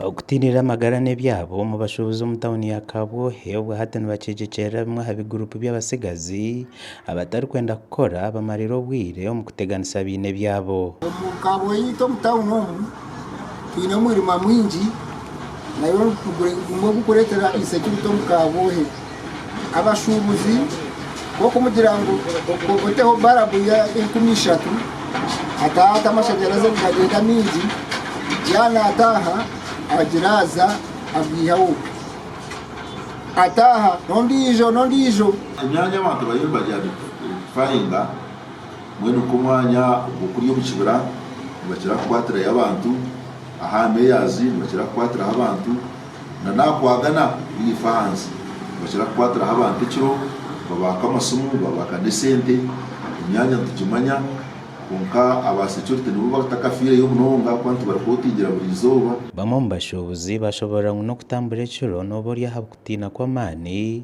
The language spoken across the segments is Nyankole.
Okutiinirira amagara n'ebyabo omu bashuubuzi omu tauni ya Kabwohe obwahati nibakyegyekyerera bimwe aha biguruupu by'abatsigazi abatarikwenda kukora bamarire obwire omu kuteganisa abaine ebyabo. Omu Kabwohe itwe omu tauni omu twine omwirima mwingi nagwo gurikureetera eishe-kirita omu Kabwohe. abashuubuzi kwonka omugira ngu oteho barabu ya enkumi ishatu ataha ati amashanyarazi nigagenda maingi yaba nataha agira aza agaihaho ataha n'ondijo n'ondijo. Emyanya abantu bariyo nibagira ngu nitufaringa mbwenu nk'omwanya ogw'okuri omu kibira nibakira kukwatirayo abantu, aha meyazi nibakira kukwatiraho abantu. na nakwagana naife ahansi nibakira kukwatiraho abantu ekiro babaka amasimu babaka nesente emyanya nitugimanya kwonka aba securite nibo abatakafireyo munonga ahakuba nibarikotingira buri izooba. Bamwe omu bashuubuzi bashoboorora ngu n'okutambura ekiro nooba ori aha kutiina kw'amaani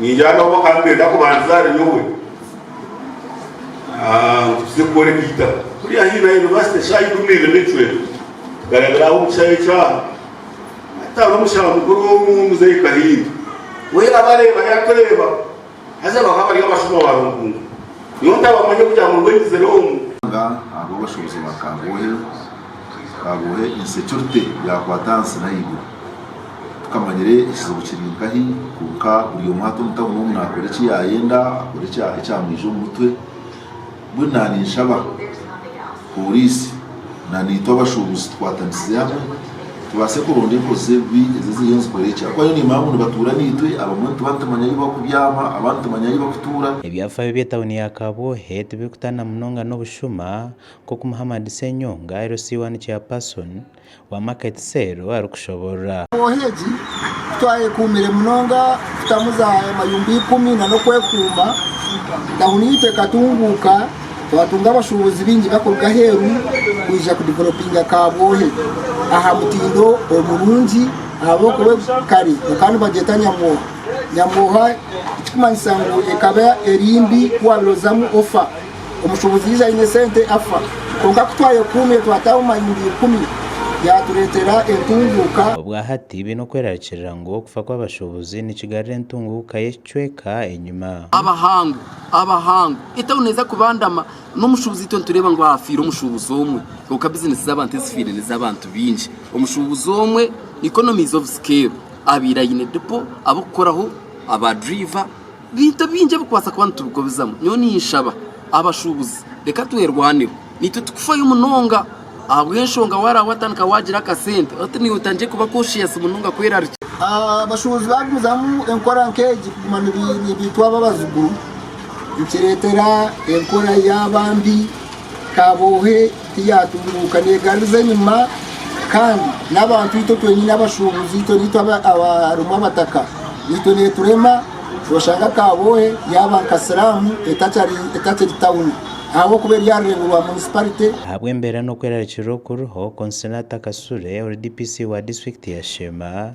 Niingira ngu ab'oka nibeenda kubandiza ahari nyowe ah, ngu tuze kukora eby'eitaka. Turi haihi na yunivasite eshaaha ikumi na ibiri n'ekicweka, tukarabira aho omu kishaayi eky'aha. Hati hariho omushaho mukuru omu, Muzeeyi Kahinda. We yaabareeba yaatureeba, haza bakaba bari abashuma ba Runkungu. Nyowe ntabamanya kugira ngu nibwo nyizire omu. Ahabw'obushobozi bwa Kagohe, Kaguhe insecurity yakwata ahansi nahaiguru tukamanyire ekizibu kiri nkahi kwonka buri omwe hati omu town omu nakora ekiyayenda akore ekyamwija omu mutwe mbwenu naninshaba police naitwe abashubuzi tukwatanisize hamwe tubase kuronda enkozi zebibi ezo eziriyo nizikora ekyi ahakuba nyowe nimanya ngu nibatuura naitwe abamwe nituba nitumanya ahu bakubyama abandi nitumanya ahu bakutuura. Ebyafaayo bye town ya Kabuhe tibirikutana munonga nobushuma nk'oku Muhammad Ssenyonga, LC 1 Chairperson, wa Market Cell arikushoboorora. Embooha egi twayekuumire munonga kutamu za amayumba ikumi na n'okwekuuma tauni yaitu ekatunguuka twatunga abashuubuzi baingi bakuruga aheeru kwija kudevelopinga Kabwohe aha mutindo omurungi ahabw'okuba kare bakaba nibagyeta Nyamwoha Nyamwoha ekikumanyisa ngu ekaba eri mbi ku waabaire ozamu ofa. Omushubuzi yaija aine esente afa. Kwonka ku twayekuumire twataho mayindi ikumi, yaatureetera entunguuka. Obwahati baine okwerarikirira ngu okufa kw'abashubuzi nikigarura entunguuka y'ekicweka enyima. Abahango, Abahango, etauni neeza kubandama n'omushubuzi itwe nitureeba ngu haafiire omushubuzi omwe. Kwonka bizinesi z'abantu ezifiire n'ez'abantu baingi. Omushubuzi omwe, economy is of scale, abaire aine dipo, ab'okukoraho, abaadriva, Bintu bingi ebikubaasa kuba nitubikobizamu. Nyowe ninshaba abashuubuzi reka twerwaneho. Naitwe tikufayo munonga ahabw'enshonga waaraba watandika waagira akasente oti niiwe otandikire kuba conscious munonga kwerarikira. Abashuubuzi baagumizamu enkora nk'egi kuguma nibaitwa ab'abazigu nikireetera enkora yaaba mbi, kaaboohe Yaatunguuka neegaruza enyima, kandi n'abantu itwe twenyine abashuubuzi, itwe naitwe abarimu abataka, naitwe neeturema, oshanga Kabwohe yaaba nka siramu etakiri tauni ahabw'okuba eri aha rurengo rwa munisiparite. Ahabw'embeera n'okwerarikirira okuriho, Consolata Kasule, ori DPC wa disiturikiti ya Sheema,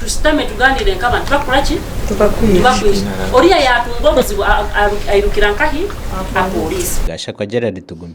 Tushutame tugaaniire nk'abantu tibakukora ki? Tibakwiha. Oriya yaatunga obuzibu airukira nkahi? Aha pooriisi. Gashakwa Gerald Tugume.